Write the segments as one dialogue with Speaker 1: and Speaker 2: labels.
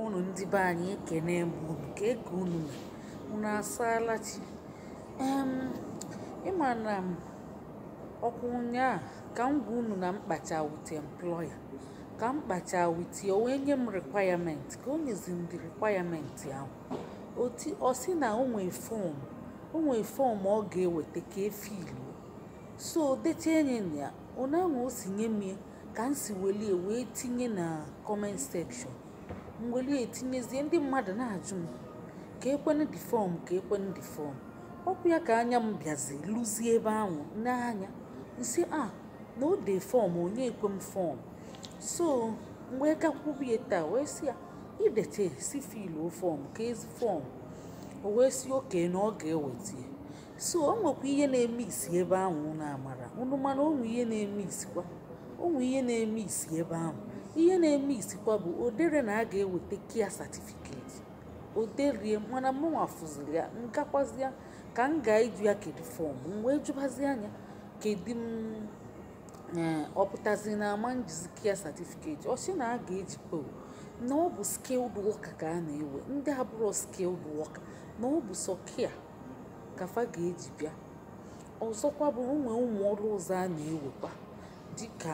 Speaker 1: unu ndị be anyị ekene m unu kee ka unu mere unu asaala chi em ị ma na m ọkwa ụnyaa ka m gwa unu na m kpacha with employer ka m kpacha with ya o wee nye m requirement ka o nyezi m the requirement ahụ oti ọ sị na o nwee fọm o nwee fọm ọ ga-eweta ka e filu so dechie enyi ya ụnyaahụ o si nye m ya ka m si welie wee tinye na comment section m welie tinyezie ndị mmadụ na-ajụ m keekwanu the fọm keekwanu the fọm okwu ya ka anya m bịazi luzie ebe ahụ n'anya m sị a ah, na o dee fọm o nyeekwe m fọm so m wee gakwubie taa wee sị ya i dete sị filu fọm keezi fọm o wee sị okay na ọ ga-eweta so o nwekwa ihe na-eme isi ebe ahụ na amara unu ma na o nwe ihe na-eme isikwa o nwe ihe na-eme isi ebe ahụ ihe na-eme isikwa bụ o dere na a ga-eweta care certificate o derie mana mụnwa fụziri ya m gakwuzi ya ka m gaa ịjụ ya kedu fọm m wee jụbazia nya kedu ma ọ pụtazi na ama m jizi care certificate ọ sị na a ga-eji po na ọ bụ skilled worker ka a na-ewe ndị abụrọ skilled worker na ọ bụ sọ care ka fa ga-eji bịa ọzọkwa bụ o nwe ụmụ ọrụ ọzọ a na-ewekwa dịka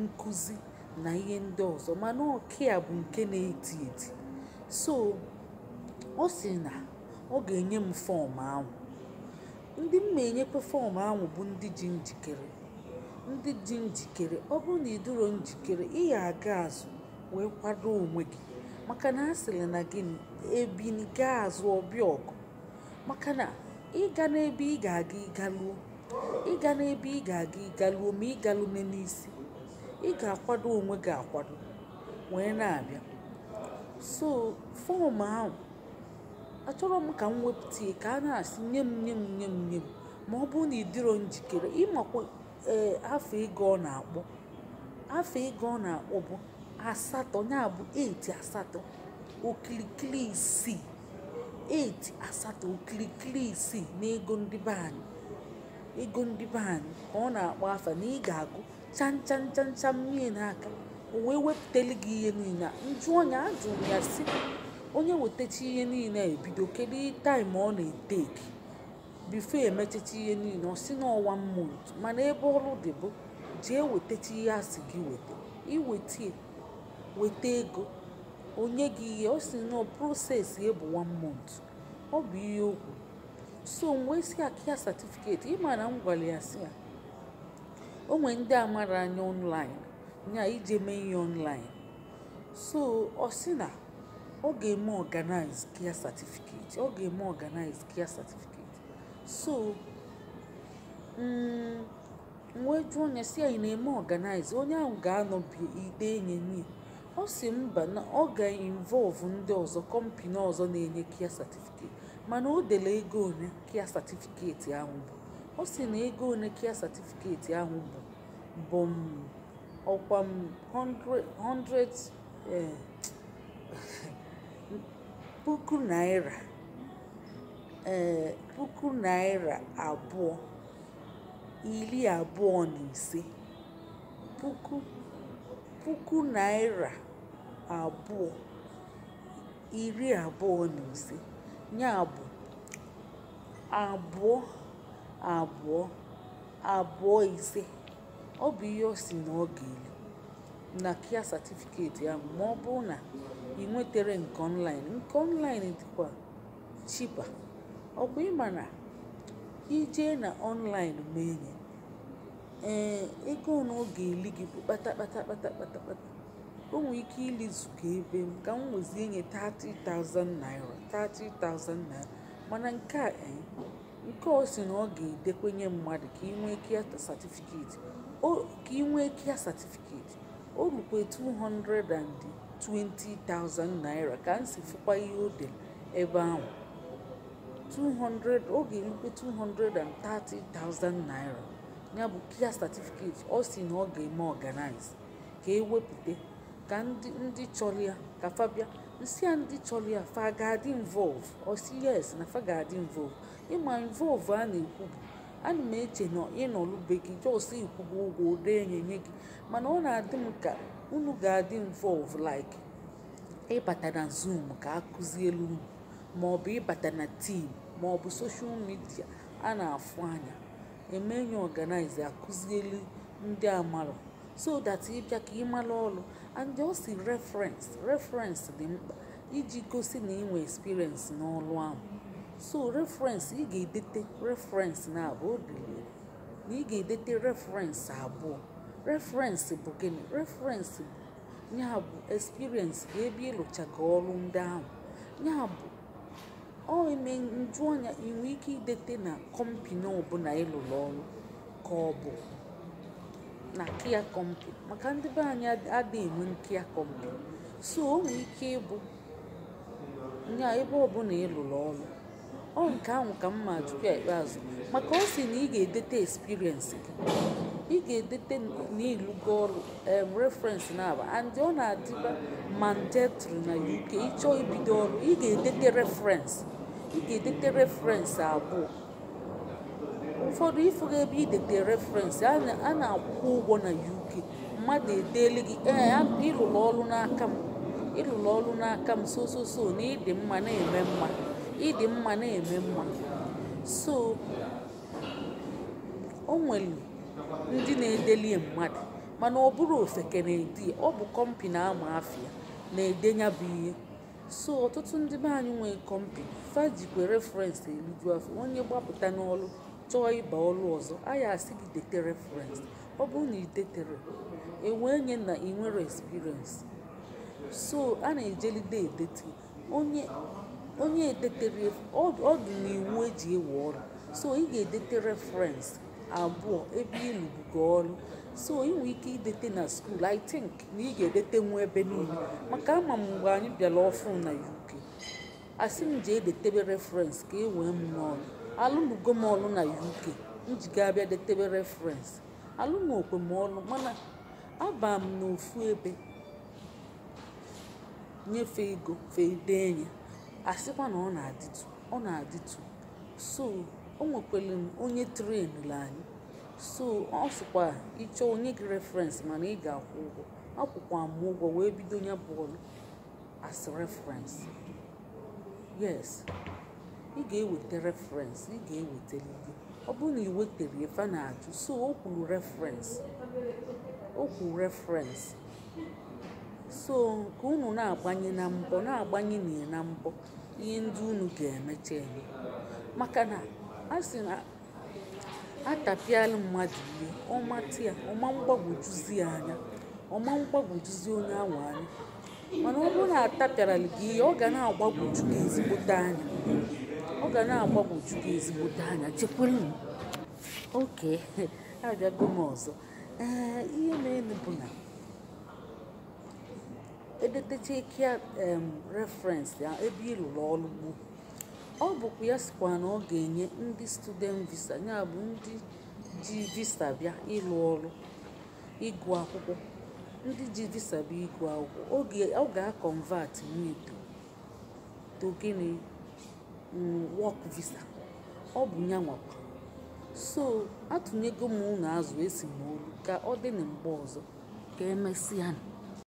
Speaker 1: nkụzi na ihe ndị ọzọ mana ọ care bụ nke na-eti eti so ọ sị na ọ ga-enye m fọm ahụ ndị m na-enyekwa fọm ahụ bụ ndị dị njikere ndị dị njikere ọ bụrụ na ị dịrọ njikere ị ya-aga azụ wee kwado onwe gị maka na a sịrị na gịnị ebini gaa azụ ọ bịa ọgụ maka na ị gana ebe ị ga-aga ị galuo ị gana ebe ị ga-aga ị galuo ma ị galu n'isi ị ga-akwado onwe gị akwado wee na-abịa so fọm ahụ achọrọ m ka m wepụta ka a na-asị nye m nye m nye m nye m ma ọ bụrụ na ị dịrọ njikere ị makwa ee afa ego ọ na-akpọ afa ego ọ na-akpọ bụ asatọ ya bụ 8 asatọ okirikiri isii 8 asatọ okirikiri isii n'ego ndị be anyị ego ndị be anyị ka ọ na-akpọ afa na ị ga-akwụ chan chan chan chan nye ya n'aka o wee wepụtali gị ihe niile m jụọ ya ajụrụ m ya sị onye wetacha ihe niile e bido kedu time ọ na-eteki before e mechacha ihe niile ọ sị na ọ one month mana ebe ọrụ dị bụ jee wetacha ihe a sị gị weta i wetie weta ego o nye gị ihe ọ sị na process ya bụ one month ọ bụ ihe okwu so m wee sị a care certificate ị ma na m gwara ya sị ya o nwere ndị amara anya online ya ije mee ihe online so ọ sị na ọ ga-eme organize care certificate ọ ga-eme organize care certificate so m wee jụọ nya sị anyị na-eme organize onye ahụ ga-anọ be ya dee enye nye ọ sị mba na ọ ga-involve ndị ọzọ company ọzọ na-enye care certificate mana o dele ego one care certificate ahụ bụ ọ sị na ego one care certificate ahụ bụ bụ m ọkwa m 100 100 eh, puku naira eh, puku naira abụọ iri abụọ na ise puku puku naira abụọ iri abụọ na ise ya bụ abụọ abụọ abụọ ise ọ bụ ihe ọ sị na ọ ga-eli na care certificate ya ma ọ bụrụ na ị nwetere nke online nke online dịkwa cheaper ọkwa ị ma na i je na online mee enye ee ego na ọ ga-eli gị bụ kpata kpata kpata kpata kpata o nwere ike ilizuga ebe m ka m wezie nye 30,000 naira 30,000 naira mana nke a eh, nke ọ sị na ọ ga-edekwenye mmadụ ka ị nwee care certificate ka ị nwee care certificate o lukwe 220,000 naira ka m si fụkwa ihe o dere ebe ahụ 200 ọ ga-elukwe 230,000 naira ya bụ care certificate ọ sị na ọ ga-eme organize ka e wepụta ka ndị ndị chọrọ ya ka fa bịa m sị ya ndị chọrọ ya fa ga-adị involve ọ sị yes na fa ga-adị involve ị ma involve a na-ekwu bụ ana m eche na ị nọlụ be gị just ị kwụgo ụgwọ o dee enye nye gị mana ọ na-adị m ka unu ga-adị involve like ịbata na zoom ka a kụzielu unu maọbụ ịbata na team maọbụ social media a na-afụ anya emenye organize akụzieli ndị amarọ so that ị bịa ka ị malụ ọrụ and ọ sị reference reference dị mkpa iji gosi na ị nwee experience n'ọrụ ahụ so reference ị ga-edete reference naabọ o dele na ị ga-edete reference abụọ reference bụ gịnị reference bụ ya bụ experience bụ ebe ị lụchaga ọrụ ndị ahụ ya bụ ọ eme m jụọ nya ị nwee ike idete na company ọbụla ị lụrụ ọrụ ka ọ bụ na care company maka ndị be anyị ad- adịghị enwe care company so o nwere ike ịbụ nya ebe ọbụla ị lụrụ ọrụ ọ nke ahụ ka m ma ajụkwa ya ikpeazụ maka ọ sị na ị ga-edete experience gị ị ga-edete na ị lụgo ọrụ um, reference na-aba and ọ na-adịba mandatory na UK ịchọọ ibido ọrụ ị ga-edete reference ị ga-edete reference abụọ ụfọdụ ifụga ebe idete reference a na- a na-akwụ ụgwọ na UK mmadụ edeele gị ee a- ịlụrụ ọrụ n'aka m ịlụrụ ọrụ n'aka m so so so na ịdị mma na-eme mma ịdị mma na-eme mma so o nwere ndị na-edelie mmadụ mana ọ bụrọ ofeke na-ede ọ bụ kọmpi na-ama afịa na-ede nya bụ ihe so ọtụtụ ndị be anyị nwee kọmpi fa jikwe referensị eliju afọ onye gbapụta n'ọlụ chọọ ịba ọlụ ọzọ a ya-asị gị dete referensị ọ bụrụ na ị detere enwee nye na ị nwere experience so a na-ejelide edete onye onye edetere ọ dị n'iwu eji ewe ọrụ so ị ga-edete reference abụọ ebe ị lụbugo ọrụ so ị nwere ike idete na skuul i think na ị ga-edetenwu ebe niile maka ama m mgbe anyị bịara ọfụ na uk asị m jee detebe reference ka e wee m n'ọrụ alụnugo m ọrụ na uk m ji ga-abịa detebe reference alụrọkwa m ọrụ mana aba m n'ofu ebe nye fe ego fe edenye asịkwa na ọ na-adịtụ ọ na-adịtụ so o nwekwere m onye trenụrụ anyị so ọ sịkwa ị chọọ o nye gị referensị mana ị ga-akwụ ụgwọ akwụkwa m ụgwọ wee bido ya bụ ọrụ as reference yes ị ga-eweta reference ị ga-ewetalili ọ bụrụ na ị wetere fe na-ajụ so o kwuru reference o kwuru reference so ka unu na-agbanye na mbọ na-agbanye na na mbọ ihe ndị unu ga-emecha eme maka na a sị na atapịala mmadụ ihe ọ matị ya ọ ma mgbagwojuzi ya anya ọ ma mgbagwojuzi onye ahụ anya mana ọ bụrụ na atapịarala gị ihe ọ ga na-agbagwoju gị ezigbote anya ọ ga na-agbagwoju gị ezigbote anya chekwere m okay abịago m ọzọ ee ihe na-eme bụ na edetecha care referensị ya ebe ị lụrụ ọrụ gboo ọ bụkwa ya sịkwa na ọ ga-enye ndị student visa ya bụ ndị ji visa bịa ịlụ ọrụ ịgụ akwụkwọ ndị ji visa bịa ịgụ akwụkwọ ọ ga-akọnvat into to gịnị work visa ọ bụ ya nwakwa so atụnyego m unu azụ esi m olu ka ọ dị na mgbe ọzọ ka emesịa